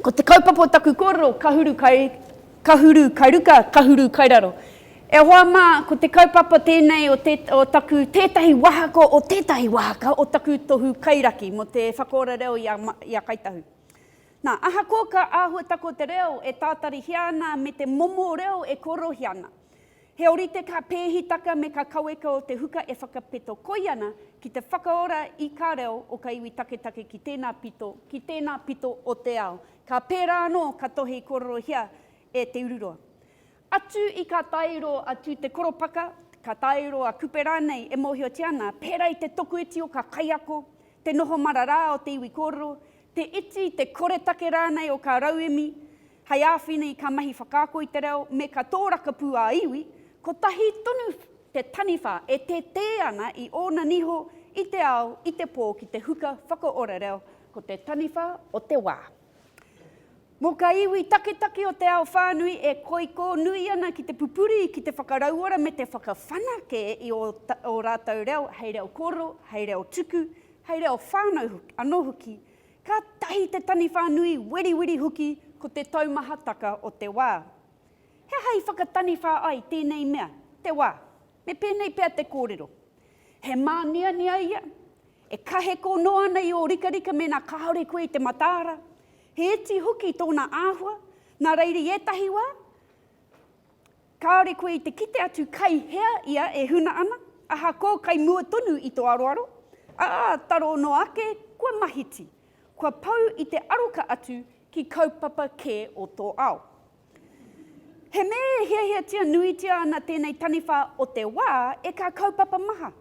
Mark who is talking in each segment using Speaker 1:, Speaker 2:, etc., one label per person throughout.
Speaker 1: Ko te kaupapa o taku kōrero, ka huru kai, ka huru kai ruka, ka huru kai raro. E hoa mā, ko te kaupapa tēnei o, te, o taku tētahi wahako o tētahi wahaka o taku tohu kairaki mō te whakaora reo i a, i a Kai Tahu. Nā, ahakoa ka āhuata ko te reo e tātarihia ana me te momo reo e kōrohi ana, he ōrite ka pēhitaka me ka kaweka o te huka e whakapeto koi ana ki te whakaora i kā reo o ka iwi taketake ki tēnā pito, ki tēnā pito o te ao. Ka pērā anō ka tohe i kōrerohia e Te Ururoa. Atu i ka tairo a Tū Te Koropaka, ka tairo a Kupe rānei e mōhiotia ana, pērā i te tokoiti o kā kaiako, te noho mararā o te iwi kōrero, te iti, te koretake rānei o kā rauemi hei āwhina i kā mahi whakaako i te reo me kā tōrakapū ā-iwi, kotahi tonu te taniwha e tētē ana i ōna niho i te ao, i te pō ki te huka whakaora reo, ko te taniwha o te wā. Mō kā iwi taketake o te ao whānui e koikō nui ana ki te pupuri, ki te whakarauora me te whakawhanake i ō rātou reo hei reo kōrero, hei reo tuku, hei reo whānau anō hoki, kātahi te taniwha nui weriweri hoki ko te taumahataka o te wā. He aha i whakataniwha ai tēnei mea, te wā? Me pēnei pea te kōrero, he māniania ia, e kaheko noa ana i ō rikarika mēnā kāore koe i te mataara, he iti hoki tōna āhua, nā reira i ētahi wā, kāore koe i te kite atu kai hea ia e huna ana, ahakoa kai mua tonu i tō aroaro, ā, taro noa ake, kua mahiti, kua pau i te aroka atu ki kaupapa kē o tō ao. He mea e hiahiatia nuitia ana tēnei taniwha o te wā e kā kaupapa maha.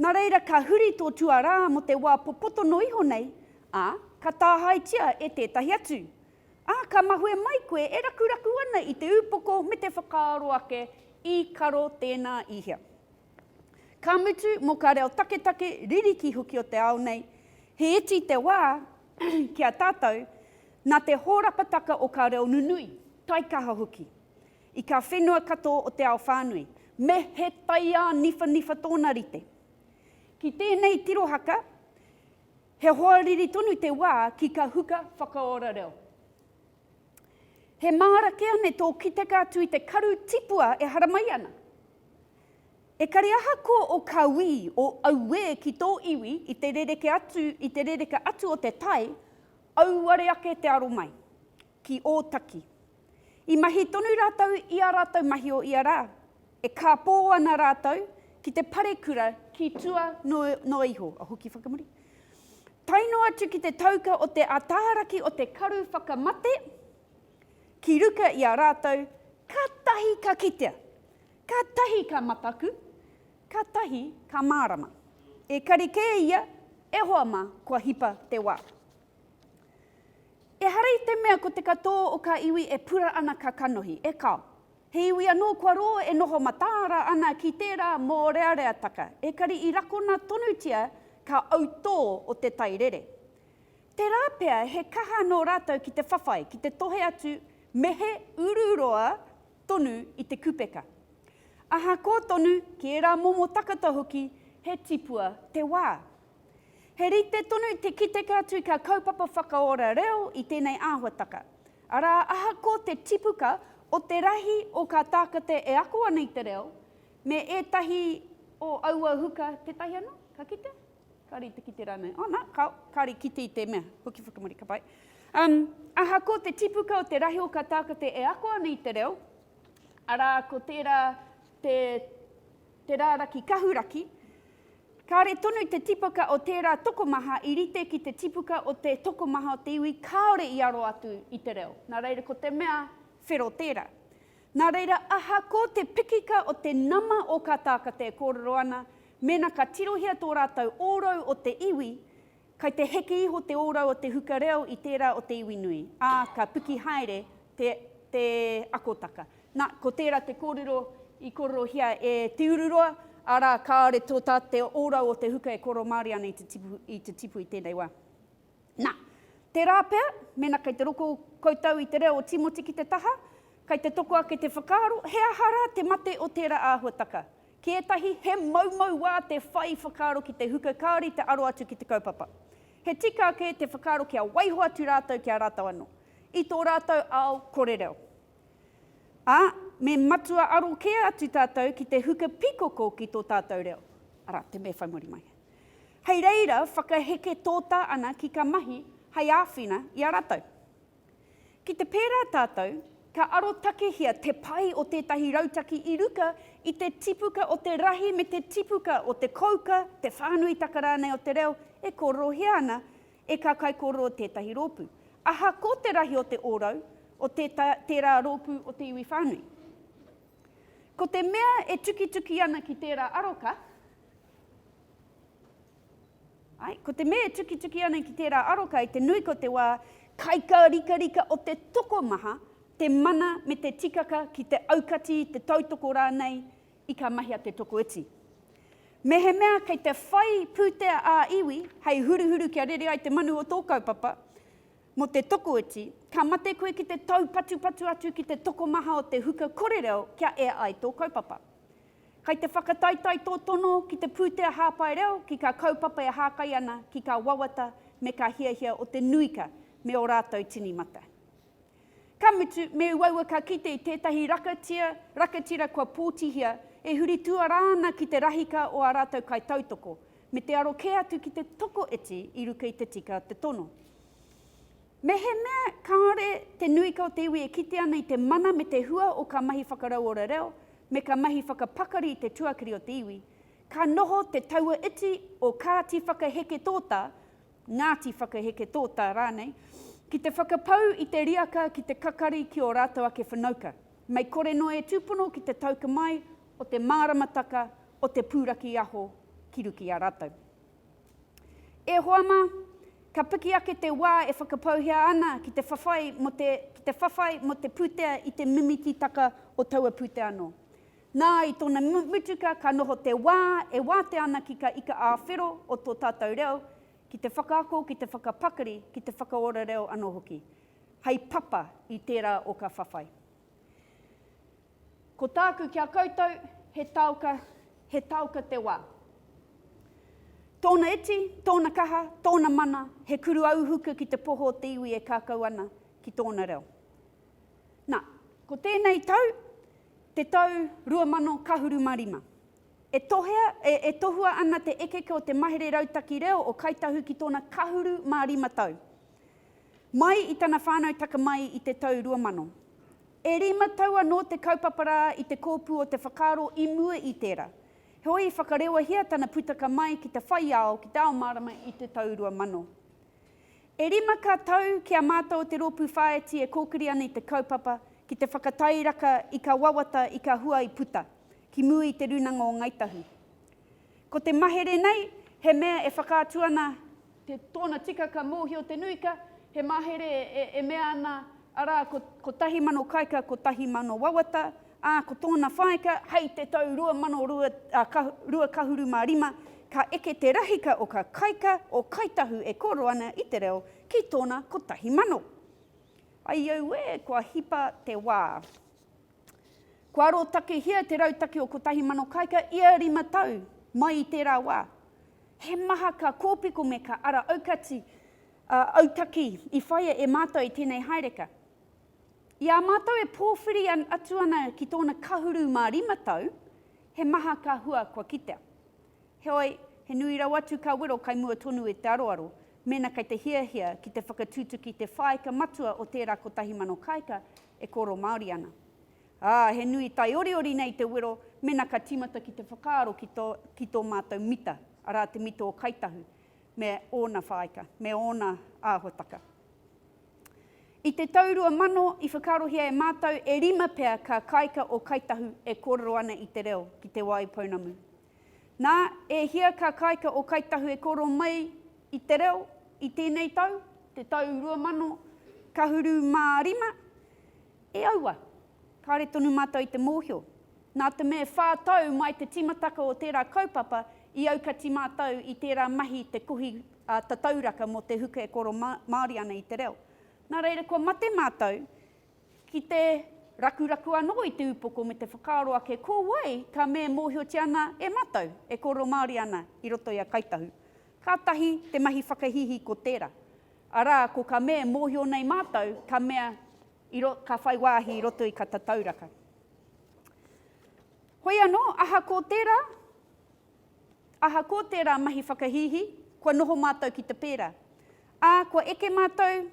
Speaker 1: Nā reira ka huri tō tuarā mō te wā popotono iho nei, ā, ka tāhaetia e tētahi atu. Ā, ka mahue mai koe e rakuraku ana i te upoko me te whakaaro ake, i karo tēnā i hea. Ka mutu, mō kā reo taketake, ririki hoki o te ao nei, he iti te wā, ki a tātou, nā te hōrapataka o kā reo nunui, taikaha hoki, i kā whenua katoa o te ao whānui, me he taiā niwhaniwha tōna rite. Ki tēnei tirohaka, he hoariri tonu te wā ki kā huka whakaora reo. He māra kē ane tō kiteka atu i te karu tipua e haramai ana. Ekari ahakoa o Kawī, o auē ki tō iwi i te rereke atu, i te rereke atu o te tai, auare ake te aro mai, ki Ōtaki. I mahi tonu rātou i ā rātou mahi o ia rā, e kāpō ana rātou ki te parekura ki tua noa iho, a hoki whakamuri, tae noa atu ki te tauka o te ataaraki o te karu whakamate, ki ruka i a rātou, kātahi ka kitea, Ka tahi ka mataku, ka tahi ka mārama. Ekari kē ia, e hoa mā, kua hipa te wā. Ehara i te mea ko te katō o kā iwi e pura ana ka kanohi, e kao. He iwi anō kua rō e noho mataara ana ki tērā mōreareataka, ekari i rakona tonutia kā autō o te tai rere. Tērā pea he kaha nō rātou ki te whawhai, ki te tohe atu me he ururoa tonu i te kupeka. Ahako tonu ki ērā momo takata hoki he tipua te wā. He rite tonu te kiteka atu i kā kaupapa whakaora reo i tēnei āhuataka, arā ahako te tipuka o te rahi o kā tākate e ako ana i te reo me ētahi o aua huka tētahi anō, ka kitea? Kari te kite ranei. Oh na, ka, kari kite i te mea. Huki whakamuri, ka pai. Um, aha ko te tipuka o te rahi o ka tākate e ako ana i te reo, arā ko tērā te, te rāraki kahuraki, Kāre tonu te tipuka o tērā tokomaha i rite ki te tipuka o te tokomaha o te iwi kāore i aro atu i te reo. Nā reira ko te mea whero tērā. Nā reira aha ko te pikika o te nama o ka tākate e kōrero ana, Mēnā ka tirohia tō rātou ōrau o te iwi, kai te heke iho te ōrau o te huka reo i tērā o te iwi nui, ā, ka piki haere te, te akotaka. Nā, ko tērā te kōrero i kororohia e Te Ururoa, arā, kāore tō tā te ōrau o te huka e kōrero Māori ana i te tipu, i te tipu i tēnei wā. Nā, tērā pea, mēnā kei te roko koutou i te reo o Tīmoti ki te taha, kai te toko ake te whakaaro, he aha rā te mate o tērā āhuataka? Ki ētahi, he moumou wā te whai whakaaro ki te huka kāore i te aro atu ki te kaupapa. He tika ake te whakaaro kia waiho atu rātou ki a rātou anō, i tō rātou ao kore reo. Ā, me matua aro kē atu tātou ki te huka pikoko ki tō tātou reo, arā, te mea whai muri mai. Hei reira, whakaheke tōtā ana ki ka mahi hei āwhina i a rātou. Ki te pērā tātou, ka arotakehia te pai o tētahi rautaki i ruka i te tipuka o te rahi me te tipuka o te kouka, te whānuitaka rānei o te reo e kōrorohia ana e kā kaikōrero o tētahi rōpū. Ahakoa te rahi o te ōrau o tērā rōpū o te iwi whānui. Ko te mea e tukituki ana ki tērā aroka, Ai, ko te mea e tukituki ana ki tērā aro kai te nui ko te wā kaikarikarika o te tokomaha, te mana me te tikaka ki te aukati, te tautoko rānei i ka mahia te tokoiti. Mehemea kei te whai pūtea ā-iwi hei huruhuru kia rere ai te manu o tō kaupapa mō te tokoiti, ka mate koe ki te taupatupatu atu ki te tokomaha o te huka kore reo kia ea ai tō kaupapa. Kai te whakataetae tō tono ki te pūtea hāpai reo, ki kā kaupapa e hākai ana ki kā wawata me kā hiahia o te nuika me ō rātou tini mate. Ka mutu, me uaua ka kite i tētahi rakatia, rakatira kua pōtihia, e huri tuarā ana ki te rahika o ā rātou kaitautoko, me te aro kē atu ki te tokoiti i ruka i te tika o te tono. Mehemea kāore te nui ka o te iwi e kite ana i te mana me te hua o ka mahi whakarauora reo me ka mahi whakapakari i te tuakiri o te iwi, ka noho te taua iti o Kāti Whakaheke Tōta, Ngāti Whakaheke Tōta rānei, ki te whakapau i te riaka ki te kakari ki ō rātou ake whanauka, mei kore noa e tūpono ki te tauka mai o te māramataka o te pūraki aho ki ruki i a rātou. E hoa mā, ka piki ake te wā e whakapauhea ana ki te whawhai mō te, ki te whawhai mō te pūtea i te mimiti-taka o taua pūtea anō. Nā, i tōna mutuka ka noho te wā e wātea ana ki ka ika ā-whero o tō tātou reo, ki te whakaako, ki te whakapakari, ki te whakaora reo anō hoki, hei papa i tērā o ka whawhai. Ko tāku ki a koutou, he taoka, he taoka te wā. Tōna iti, tōna kaha, tōna mana, he kuru auhuka ki te poho o te iwi e kakau ana ki tōna reo. Nā, ko tēnei tau, te tau 2000 ka huru mā rima. E tohea, e, e tohua ana te ekeke o te mahere rautaki reo o Kai Tahu ki tōna kahuru mā rima tau. Mai i tana whānau taka mai i te tau 2000. E rima tau anō te kaupapa rā i te kōpū o te whakaaro i mua i tērā. Heoi i whakarewahia tana putaka mai ki te whai ao ki te ao mārama i te tau 2000. E rima ka tau ki a mātou te rōpū whāiti e kōkiri ana i te kaupapa ki te whakatairaka i kā wawata i kā hua i puta ki mua i te rūnanga o Ngāi Tahu. Ko te mahere nei he mea e whakaatu ana Te tōna tika ka mōhio te nuika, he mahere e mea ana, arā, ko, ko tahi mano kaika, ko tahi mano wawata, ā, ko tōna whaika, hei te tau rua mano rua, ā, ka, rua kahuru mā rima, ka eke te rahika o ka kaika, o Kāi Tahu e kōrero ana i te reo ki tōna kotahi mano. Ai auē, kua hipa te wā. Kua arotakehia te rautaki o Kotahi Mano Kāika ia rima tau mai i tērā wā. He maha ka kōpiko me ka ara aukati, ā, autaki i whaia e mātou i tēnei haereka. I a mātou e pōwhiri atu ana ki tōna kahuru mā rima tau, he maha ka hua kua kitea. Heoi, he nui rawa atu ka wero kai mua tonu e te aroaro, mēnā kei te hiahia ki te whakatutuki te whāika matua o tērā Kotahi Mano Kāika, e kōrero Māori ana. Ā, he nui taioriori nei te wero mena ka tīmata ki te whakaaro ki tō, ki tō mātou mita, arā te mita o Kāi Tahu, me ōna whāika, me ōna āhuataka. I te tau 2000 i whakaarohia e mātou e rima pea kā kāika o Kāi Tahu e kōrero ana i te reo ki Te Wai Pounamu. Nā, e hia ka kāika ō Kāi Tahu e kōrō mai i te reo i tēnei tau, te tau 2000, ka huru mā rima? E aua, kāre tonu mātou i te mōhio. Nā te mea e whā tau mai te tīmataka o tērā kaupapa, i aukati mātou i tērā mahi i te kohi tatauraka mō te huka e kōrō Māori ana i te reo. Nā reira, kua mate mātou, Ki te rakuraku anō i te upoko me te whakaaro ake ko wai ka me mōhiotia ana e mātou e kōrero Māori ana i roto i a Kāi Tahu. Kātahi te mahi whakahīhī ko tērā, arā, ko ka me mōhio nei mātou ka mea i ro, ka whai wāhi i roto i ka tatauraka. Hoi anō, aha kō tērā, aha kō tērā mahi whakahīhī, kua noho mātou ki te pērā, ā, kua eke mātou,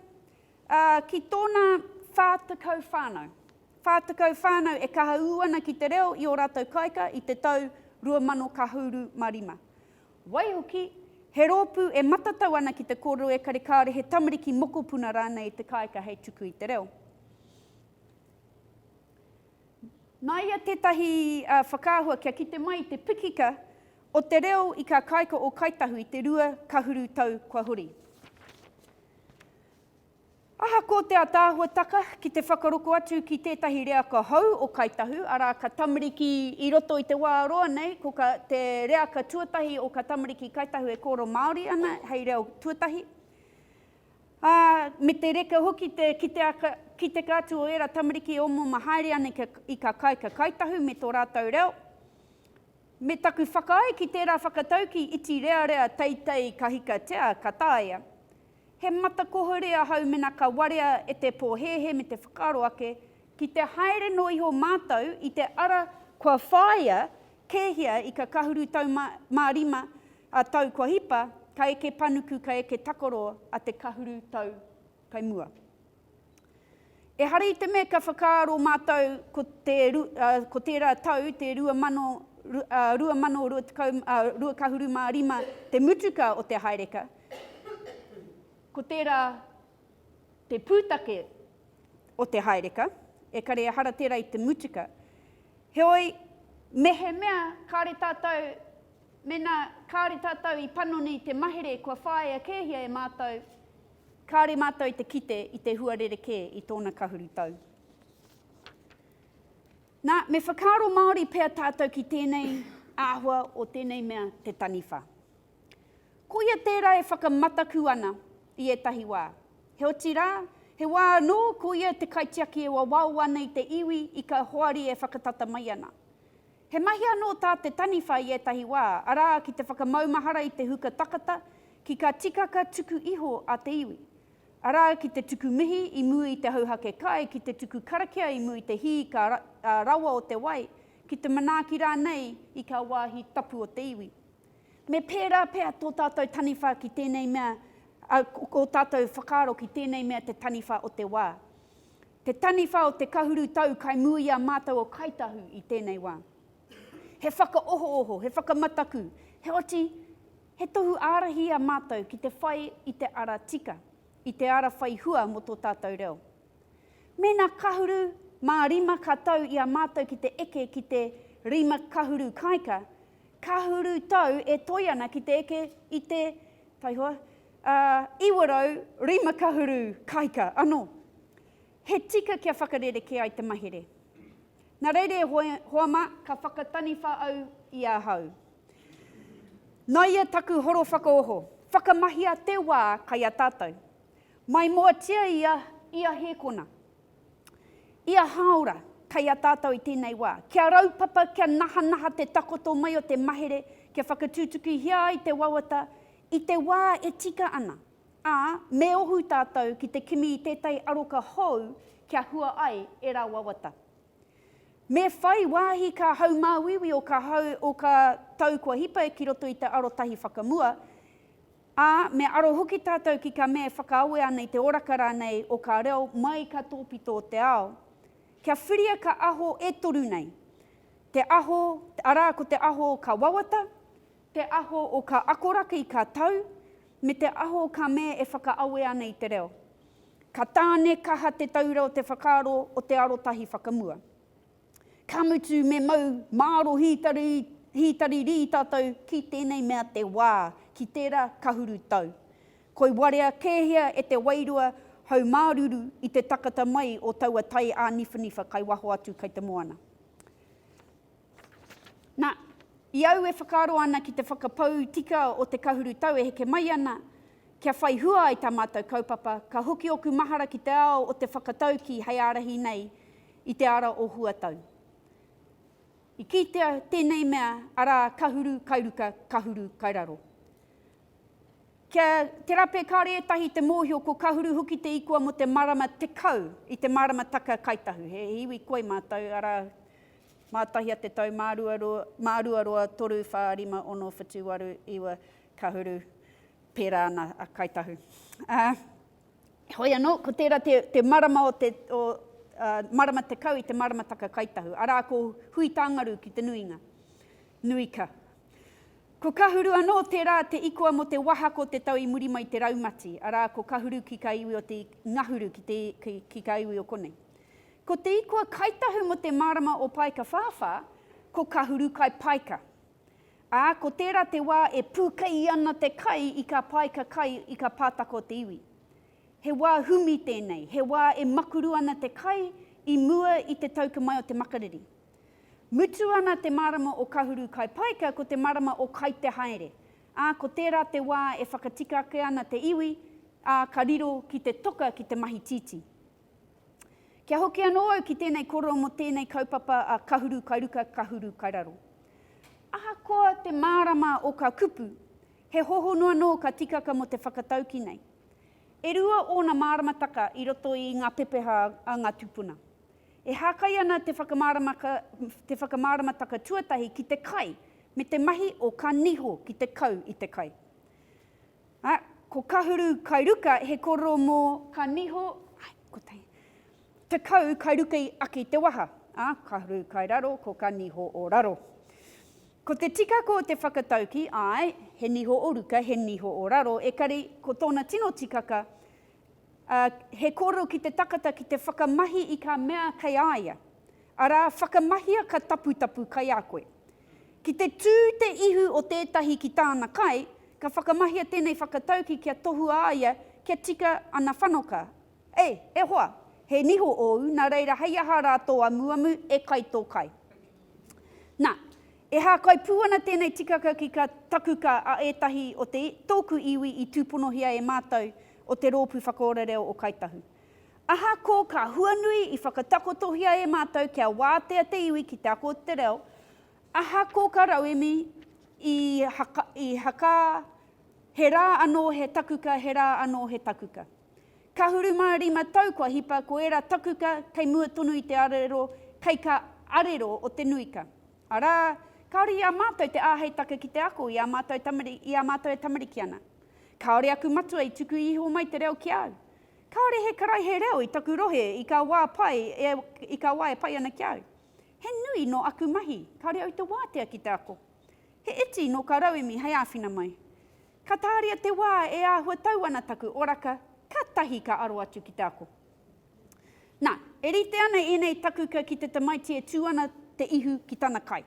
Speaker 1: Ā, ki tōna whā tekau whānau. Whā tekau whānau e kaha ū ana ki te reo i ō rātou kāika i te tau rua mano kahuru ma rima. Waihoki, he rōpū e matatau ana ki te kōrero ekari kāore he tamariki mokopuna rānei i te kāika hei tuku i te reo. Nāia tētahi whakaahua kia kite mai i te pikika o te reo i kā kāika o Kāi Tahu i te rua kahuru tau kua hori. Ahakoa te ataahuataka ki te whakaroko atu ki tētahi reaka hou o Kāi Tahu, arā, ka tamariki i roto i te wā roa nei, ko ka, te reaka tuatahi o ka tamariki Kāi Tahu e kōrero Māori ana hei reo tuatahi, ā, me te reka hoki te kiteaka, kiteka atu o ērā tamariki e omoma haere ana i kā kāika Kāi Tahu me tō rātou reo. Me taku whakaae ki tērā whakataukī iti rearea teitei kahikatea ka taea. He matakohore a Haumena ka warea e te pōhēhē me te whakaaro ake, ki te haere noa iho mātou i te ara kua whāia kēhia i Kakahuru tau mā, mā rima a tau kua hipa, ka eke panuku, ka eke takaro a te kahuru tau kai mua. Ehara i te mea kia whakaaro mātou ko te ko tērā tau, te 2022 ka huru mā rima te mutuka o te haereka, ko tērā te pūtake o te haereka, ekare ehara tērā i te mutuka. Heoi, mehemea kāre tātou, mēnā kāre tātou i panoni te mahere kua whāia kēhia e mātou, Kāore mātou te kite i te hua rerekē i tōna kahuru tau. Nā, me whakaaro Māori pea tātou ki tēnei āhua o tēnei mea te taniwha. Koia tērā e whakamataku ana i ētahi wā. Heoti rā, he wā anō koia te kaitiaki e wawao ana i te iwi ika hoari e whakatata mai ana. He mahi anō tā te taniwha i ētahi wā, arā, ki te whakamaumahara i te huka takata, ki ka tikaka tuku iho a te iwi. Arā, ki te tuku mihi i mua i te hauhake kai, ki te tuku karakia i mua i te hī ka rawa o te wai, ki te manaaki rānei i kā wāhi tapu o te iwi. Me pērā pea tō tātou taniwha ki tēnei mea, ā, ō tātou whakaaro ki tēnei mea te taniwha o te wā. Te taniwha o te kahuru tau kai mū i a mātou o Kāi Tahu i tēnei wā. He whakaohooho, he whakamataku, heoti, he tohu ārahi i a mātou ki te whai i te ara tika, i te ara whai hua mō tō tātou reo. Mēnā kahuru mā rima ka tau i a mātou ki te eke ki te rima kahuru kāika, kahuru tau e toe ana ki te eke i te, taihoa, Ā, 900 kahuru kāika anō. He tika kia whakarerekē ai te mahere. Nā reira e hoe, hoa mā, ka whakataniwha au i ahau. Nā ia taku horo whakaoho, whakamahia te wā kai a tātou. Maimoatia ia, ia hēkona. Ia hāora, kai a tātou i tēnei wā. Kia raupapa, kia nahanaha te takoto mai o te mahere, kia whakatutukihia ai te wawata I te wā e tika ana, ā, me ohu tātou ki te kimi i tētahi aroka hou kia hua ai ērā wawata. Me whai wāhi kā haumāuiui o kā hau o kā tau kua hipa ki roto i te arotahi whakamua, ā, me aro hoki tātou ki kā mea e whakaawe ana i te oraka rānei o kā reo mai kā tōpito o te ao. Kia whiria kā aho e toru nei, te aho, arā, ko te aho o kā wawata, te aho o ka akoraki ka tau, me te aho o ka mea e whakaawe ana i te reo. Ka tāne kaha te taura o te whakaaro o te arotahi whakamua. Ka mutu me mau māro hītari, hītari rī tātou ki tēnei mea te wā, ki tērā kahuru tau. Koi warea kēhia e te wairua haumāruru i te takata mai o taua taiāniwhaniwha kai waho atu kai te moana. Na, i au e whakaaro ana ki te whakapau tika o te kahuru tau e heke mai ana, kia whai hua ai tā mātou kaupapa, ka hoki ōku mahara ki te ao o te whakataukī hei ārahi nei i te ara o huatau. I kitea tēnei mea, arā, kahuru kai ruka, kahuru kai raro. Kia te rape kāore ētahi te mōhio ko kahuru hoki te ikua mō te marama tekau i te maramataka Kai Tahu. He iwi koi mātou, arā, Mātahia te tau māruaroa toru whā rima ono whitu waru iwa kahuru pērā ana a Kāi Tahu. Heoi anō, ko tērā te marama o te marama tekau i te maramataka Kāi Tahu, arā ko Huitāngaru ki te nuinga. Nui ka. Ko Kahuru anō tērā te ikoa mō te wahako te tau i muri mai te raumati, arā ko Kahuru ki kā iwi o te Ngahuru ki kā iwi o konei. Ko Te Ikua Kai Tahu mō te mārama o Paekawhāwhā, ko Kahuru Kai Paeka. Ā, ko tērā te wā e pūkei ana te kai i kā paeka kai i kā pātaka o te iwi. He wā humi tēnei, he wā e makuru ana te kai i mua i te tauka mai o te makariri. Mutu ana te mārama o Kahuru Kai Paeka ko te marama o Kai Te Haere, ā, ko tērā te wā e whakatika ake ana te iwi, ā, ka riro ki te toka ki te mahi tītī. Kia hoki anō au ki tēnei kōrero mō tēnei kaupapa a Kahuru kai ruka, Kahuru kai raro. Ahakoa te mārama o kā kupu, he hohonu anō ka tikaka mō te whakatauki nei. E rua ōna māramataka i roto i ngā pepeha a ngā tūpuna. E hākai ana te te whakamāramataka tuatahi ki te kai me te mahi o kā niho ki te kau i te kai. Ā, ko Kahuru kai ruka he kororo mō ka niho, ai, ko te. Tekau kai ruka i aki te waha. Ā, Kahuru kai raro, ko ka niho o raro. Ko te tikako o te whakatauki, āe, he niho o ruka, he niho o raro, ekari ko tōna tino tikaka, ā, he kōrero ki te takata ki te whakamahi i kā mea kei a ia. Arā, whakamahia ka taputapu kai a koe. Ki te tū te ihu o tētahi ki tāna kai, ka whakamahia tēnei whakatauki kia tohua a ia kia tika ana whanoka. Ei, e hoa! He niho ōu, nā reira hei aha rā tō amuamu, e kai tō kai? Nā, e hākai pū ana tēnei tikaka ki ka takuka a ētahi o te, tōku iwi i tūponohia e mātou o te Rōpū Whakaora Reo o Kāi Tahu. Ahakoa ka huanui i whakatakotohia e mātou kia wātea te iwi ki te ako o te reo, ahakoa ka rauemi i haka, i hakā, he rā anō he takuka, he rā anō he takuka. Kahuru mā rima tau kua hipa ko ērā takuka kei mua tonu i te arero kei ka arero o te nuika. Arā, kāore i a mātou te āhei take ki te ako i ā mātou tamari, i ā mātou e tamariki ana. Kāore aku matua i tuku iho mai te reo ki au. Kāore he karaihe reo i taku rohe i ka wā pai e, i ka wā e pai ana ki a au. He nui nō aku mahi, kāore au te wātea ki te ako. He iti nō ka rauemi hei āwhina mai. Ka tāria te wā e āhua tau ana taku oraka, kātahi ka aro atu ki te ako. Nā, e rite ana ēnei takuka ki te tamaiti e tū ana te ihu ki tana kai.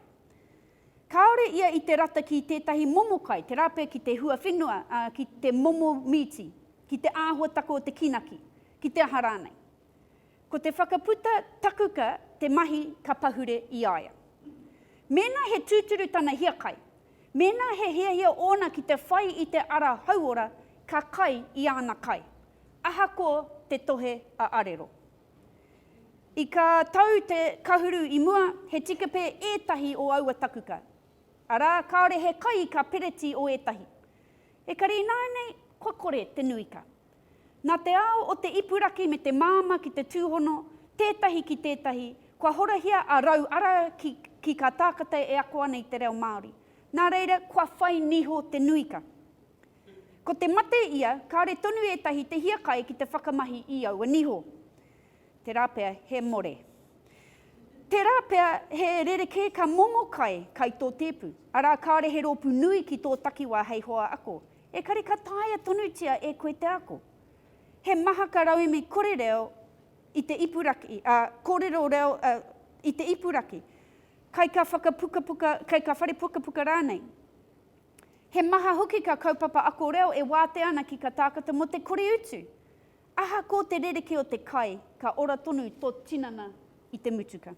Speaker 1: Kāore ia i te rata ki tētahi momo kai, te rape ki te huawhenua, ā, ki te momo mīti, ki te āhuatako o te kīnaki, ki te aha rānei. Ko te whakaputa takuka te mahi ka pahure i a ia. Mēnā he tūturu tana hiakai, mēnā he hiahia ōna ki te whai i te ara hauora ka kai i āna kai, ahakoa te tohe a arero. I ka tau te kahuru i mua, he tikepe ētahi o aua takuka. Arā, kāore he kai ka pereti o ētahi. Ekari ināianei, kua kore te nuika. Nā te ao o te ipuraki me te māmā ki te tūhono, tētahi ki tētahi, kua horahia a Rau Ara ki, ki kā tākata e ako ana i te reo Māori. Nā reira, kua whai niho te nuika. Ko te mate ia, kāore tonu ētahi te hiakai ki te whakamahi i aua niho. Tērā pea he more. Tērā pea he rerekē ka momo kai, kai tō tēpu, arā kāore he rōpū nui ki tō takiwā hei hoa ako. Ekare ka taea tonutia e koe te ako. He maha ka rauemi kore reo i te ipuraki, ā, kōrero reo, ā, i te ipuraki, kai ka whakapukapuka, kai ka whare pukapuka rānei. He maha hoki ka kaupapa ako reo e wātea ana ki ka tākata mō te kore utu. Ahakō te rerekē o te kai, ka ora tonu tō tinana i te mutuka.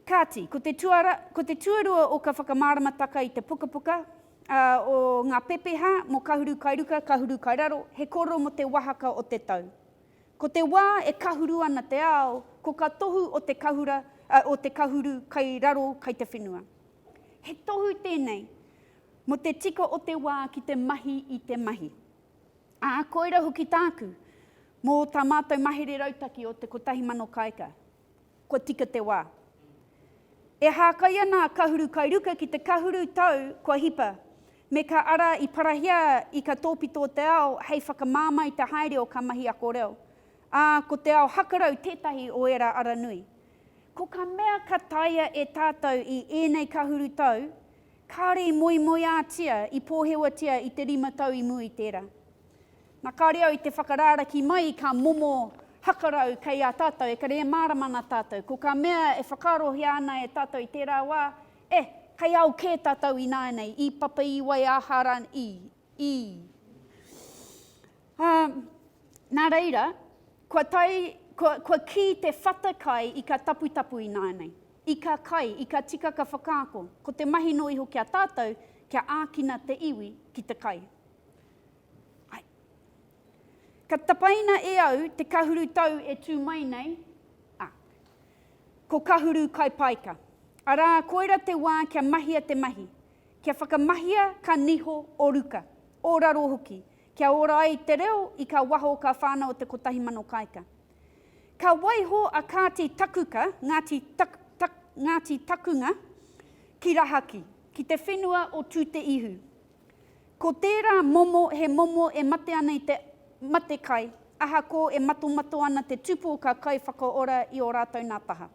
Speaker 1: Kāti, ko te tuara, ko te tuarua o ka whakamāramataka i te pukapuka, ā, o ngā pepeha mō Kahuru Kai Ruka, Kahuru Kai Raro, he kōrero mō te wāhaka o te tau. Ko te wā e kahuru ana te ao, ko ka tohu o te kahura, ā, o te Kahuru Kai Raro kai te whenua. He tohu tēnei mō te tika o te wā ki te mahi i te mahi. Ā, koira hoki tāku, mō tā mātou mahere rautaki o te kotahi mano kāika, kua tika te wā. E hākai ana a Kahuru Kai Ruka ki te kahuru tau kua hipa, me ka ara i parahia i ka tōpito o te ao hei whakamāmā i te haere o ka mahi ako reo, ā, ko te ao hakarau tētahi o ērā ara nui. Ko ka mea ka taea e tātou i ēnei kahuru tau, kāore i moemoeātia, i pōhewatia i te rima tau i mua i tērā. Na kāore au i te whakarāraki mai i kā momo hakarau kei a tātou, ekare e mārama ana tātou. Ko ka mea e whakaarohia ana e tātou i tērā wā, eh, kei ao kē tātou ināianei, ī Papa ī Waiāhara ī, ī. Ā, nā reira, kua tae, kua, kua kī te whata kai i ka taputapu ināianei, i ka kai, i ka tikaka whakaako, ko te mahi noa iho ki a tātou kia ākina te iwi ki te kai. Ai. Ka tapaina e au te kahuru tau e tū mai nei, ā, ko kahuru kai paika. Arā, koira te wā kia mahia te mahi, kia whakamahia ka niho o ruka, o raro hoki, Kia ora ai te reo i ka waho ka whanao te kotahi mano kaika. Ka waiho a Kāti Takuka, Ngāti Tak, Tak, Ngāti Takunga, ki Rahaki, ki te whenua o Tū-te-ihu. Ko tērā momo he momo e mate ana i te matekai, ahakō e matomato ana te tupō ka kai whakaora i ō rātou nā taha.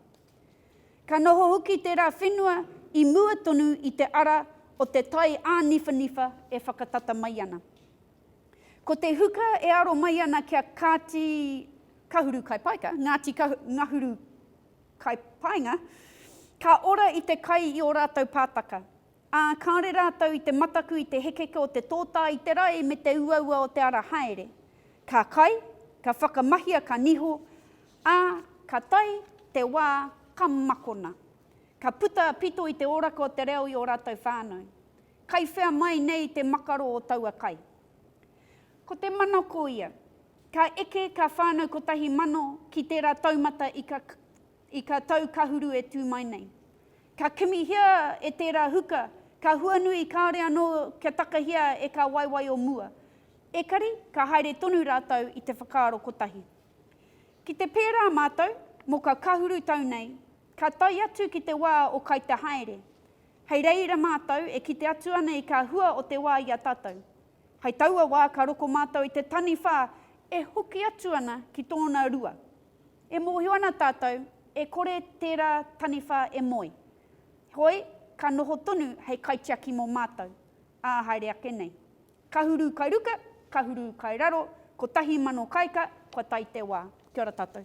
Speaker 1: Ka noho hoki tērā whenua i mua tonu i te ara o te tai āniwhaniwha e whakatata mai ana. Ko te huka e aro mai ana ki a Kāti Kahuru Kai Paika, Ngāti Ngahuru Kai Paenga, ka ora i te kai i ō rātou pātaka. Ā, kāore rātou i te mataku i te hekeke o te tōtā i te rae me te uaua o te ara haere. Ka kai, ka whakamahia ka niho, ā, ka tae te wā ka makona. Ka puta a Pito i te oraka o te reo i ō rātou whānau. Kai whea mai nei te makaro o taua kai? Ko te mana ko ia. Ka eke kā whānau kotahi mano ki tērā taumata i ka. I ka tau kahuru e tū mai nei. Ka kimihia e tērā huka, ka huanui kāore anō kia takahia e kā waewae o mua. Ekari, ka haere tonu rātou i te whakaaro kotahi. Ki te pērā mātou, mō ka kahuru tau nei, ka tae atu ki te wā o kai te haere. Hei reira mātou e kite atu ana i kā hua o te wā i a tātou. Hai taua wā ka roko mātou i te taniwha e hoki atu ana ki tōna rua. E mōhio ana tātou, e kore tērā taniwha e moe. Heoi, ka noho tonu hei kaitiaki mō mātou, ā haere ake nei. Kahuru kai ruka, kahuru kai raro, kotahi mano kaika, kua tae te wā. Kia ora tātou.